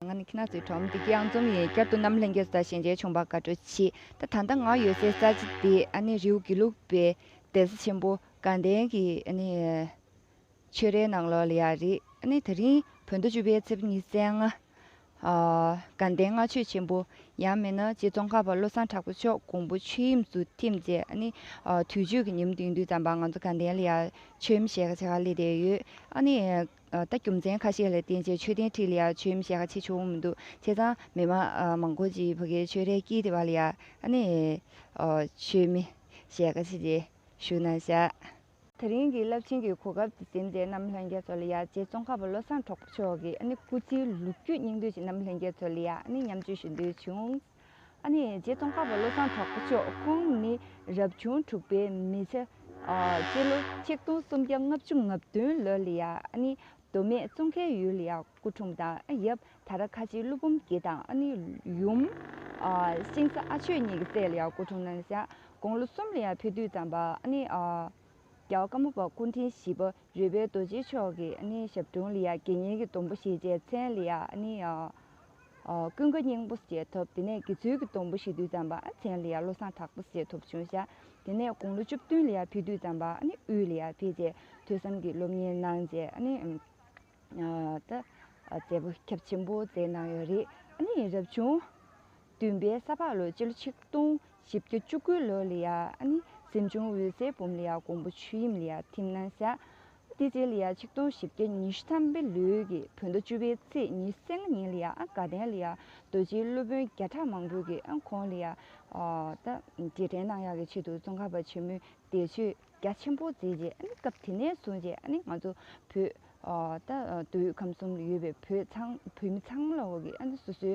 ང་ནི་ཁྱི་ནག་ཚོའི་ཁྲོམ་སྡེ་དཀྱིལ་འཛོམས་ཡིན་བསྐྱར་དུ་གནམ་ལྷན་རྒྱས་སུ་དང་ཞལ་མཇལ་བྱུང་བར་དགའ་སྤྲོ་མཆིས་ད་ད་ལྟ་ང་ཡོད་སའི་ས་ཆ་འདི་ཨ་ནེ་རེའུ་དགེ་ལུགས་པའི་གདན་ས་ཆེན་པོ་དགའ་ལྡན་གྱི་ཆོས་རའི་ནང་ལོགས་ལ་ཡ་རེད་ད་རིང་བོད་ཟླ་བཅུ་པའི་ཚེས་ཉི་ཚེས་ལྔ་དགའ་ལྡན་ལྔ་མཆོད་ཆེན་པོ་ཡང་མེད་ན་རྗེ་ཙོང་ཁ་པ་བློ་བཟང་གྲགས་པ་མཆོག་དགོངས་པ་ཆོས་དབྱིངས་སུ་ཐིམ་རྗེས་དུས་མཆོད་ཀྱི་ཉིན་བདུན་བདུན་ཙམ་པར་ང་ཚོ་དགའ་ལྡན་ལ་ཡར་མཆོད་མེ་ཞལ་ཁ་ཆེ་ཁག་སླེབས་བསྡད་ཡོད་ད་རྒྱུ་མཚན་ཁ་ཤས་ལ་བརྟེན་ཆེད་མཆོད་རྟེན་ཁྲི་ལ་ཡང་མཆོད་ཡུམ་ཞལ་ཁ་ཕྱེ་ཆོག་མི་འདུག་བྱས་ཙང་མི་དམངས་མང་པོ་ཞིག་བོད་ཁའི་ཆོས་རའི་དཀྱིལ་དེ་བ་ལ་ཡང་ནས་མཆོད་མེ་ཞལ་ཁ་ཕྱེ་རྗེས་བཞུགས་གནང་བཞག། དེ་རིང་གི་རླབས་ཆེན་གྱི་གོ་སྐབས་འདི་སེམས་ཅན་རྣམས་ལྷན་རྒྱས་ཚོ་ལ་ཡང་རྗེ་ཙོང་ཁ་པ་བློ་བཟང་གྲོགས་པོ་མཆོག་གི་སྐུ་ཚེའི་ལོ་རྒྱུས་སྙིང་བསྡུས་ཅིག་རྣམས་ལྷན་རྒྱས་ཚོ་ལ་ཡང་མཉམ་སྤྱོད་ཞུ་འདོད་བྱུང། རྗེ་ཙོང་ཁ་པ་བློ་བཟང་གྲོགས་པ་མཆོག་ཁོང་ནི་རབ་བྱུང་དྲུག་པའི་མི་ཚེ། སྤྱི་ལོ་ཆིག་སྟོང་སུམ་བརྒྱ་ལྔ་བཅུ་ང་བདུན་ལོ་ལ་མདོ་སྨད་ཙོང་ཁའི་ཡུལ་ལ་སྐུ་འཁྲུངས་དང་ཡབ་ད་ར་ཁ་ཆེའི་ཀླུ་འབུམ་སྐྱིད་དང་ཡུམ། ཤིང་བཟའ་ཨ་ཆོས་གཉིས་ཀྱི་སྲས་ལ་སྐུ་འཁྲུངས་གནང། དགུང་ལོ་གསུམ་ལ་ཕུ་དུད་ཙམ་པར་རྒྱལ་བ་ཀ་མོ་པ་སྐུ་འཕྲེང་བཞི་པ་རོལ་པའི་རྡོ་རྗེ་མཆོག་གི་ཞབས་དྲུང་ལ་དགེ་བསྙེན་གྱི་སྡོང་པོ་ཞེས་བྱའི་མཚན་ལ། ཀུན་དགའ་སྙིང་པོ་བསྐྱེད་ཐུབ་དེ་ནས་དགེ་ཚུལ་གྱི་སྡོང་པོ་ཞེ་དུས་ཙམ་པ་ཚན་ལ་ཡར་བློ་བཟང་དྲག་པོ་བསྐྱེད་ཐུབ་བྱུང་བྱ། དེ་ནས་དགུང་ལོ་བཅུ་བདུན་ལ་ཡར་ཕེབས་དུས་ཙམ་པ་དབུས་ལ་ཡར་ཕེབས་རྗེས་ཐོས་བསམ་གྱི་སློབ་གཉེར་གནང་རྗེས་མཛད་པོ་ཁྱབ་ཆེན་པོ་མཛད་གནང་ཡོད་རེད། རབ་བྱུང་བདུན་པའི་ས་ཕག་ལོའི་སྤྱི་ལོ་ཆིག་སྟོང་བཞི་བརྒྱ་བཅུ་དགུ་ལོ་ལ་ཡར་གཟིམ་ཆུང་འོད་ཟེར་འབུམ་ལ་ཡར་ཀོང་པོ་ཆོས་དབྱིངས་ལ་ཡར་ཐིམ་གནང་བྱ། ཏི་ཙེ་ལི་ཡཱ་ཆིག་སྟོང་བཞི་བརྒྱ་ཉི་ཤུ་ཐམ་པའི་ལུགས་ཀྱི་བོད་ཟླ་བཅུ་པའི་ཚེས་ཉིན་སེང་གེ་ཉིན་ལི་ཡཱ་དགའ་ལྡན་ལི་ཡཱ་རྡོ་རྗེའི་སློབ་དཔོན་བརྒྱ་ཕྲག་མང་པོས་ཀྱི་ཁོང་ལི་ཡཱ་ལྟ་རྗེས་དྲན་གནང་ཡག་གི་ཆེད་དུ་ཙོང་ཁ་པ་ཆེན་མོས་འདས་མཆོད་རྒྱ་ཆེན་པོ་མཛད་རྗེས་སྐབས་དེ་ནས་བཟུང་རྗེས་ང་ཚོ་བོད་ད་དུས་ཁམས་གསུམ་ལ་ཡོད་པའི་བོད་མི་ཚང་མ་ལ་འོག་གི་སོ་སོའི་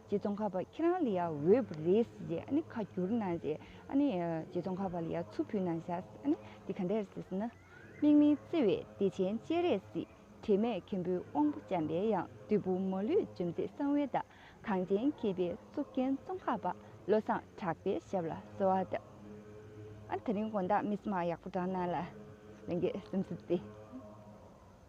རྗེ་ཙོང་ཁ་པ་ཁྱེད་རང་ལི་ཡ་འོས་རེད་ཟེར་རྗེས་ཨ་ཁ་བསྒྱུར་གནང་རྗེས་ཨ་རྗེ་ཙོང་ཁ་པ་ལི་ཡ་ཆུ་ཕུལ་གནང་ཤག་འདི་ག་འདྲས་ཟེར་ན། མིག་མི་བརྩེ་བའི་བདེ་ཆེན་སྤྱན་རས་གཟིགས་དྲི་མེད་མཁན་པོའི་དབང་པོ་འཇམ་པའི་ཡང་བདུད་བུ་མོ་ལུས་འཇོམས་མཛད་གསང་བའི་བདག། གངས་ཅན་མཁས་པའི་གཙུག་རྒྱན་ཙོང་ཁ་པ་བློ་བཟང་གྲགས་པའི་ཞབས་ལ་གསོལ་བ་འདེབས། ད་རིང་དགོངས་དག་མི་སྨྲ་ཡག་པོ་བསྒྲགས་གནང་ལ། ལན་རྒྱས་སེམས་གསོ་མཛད།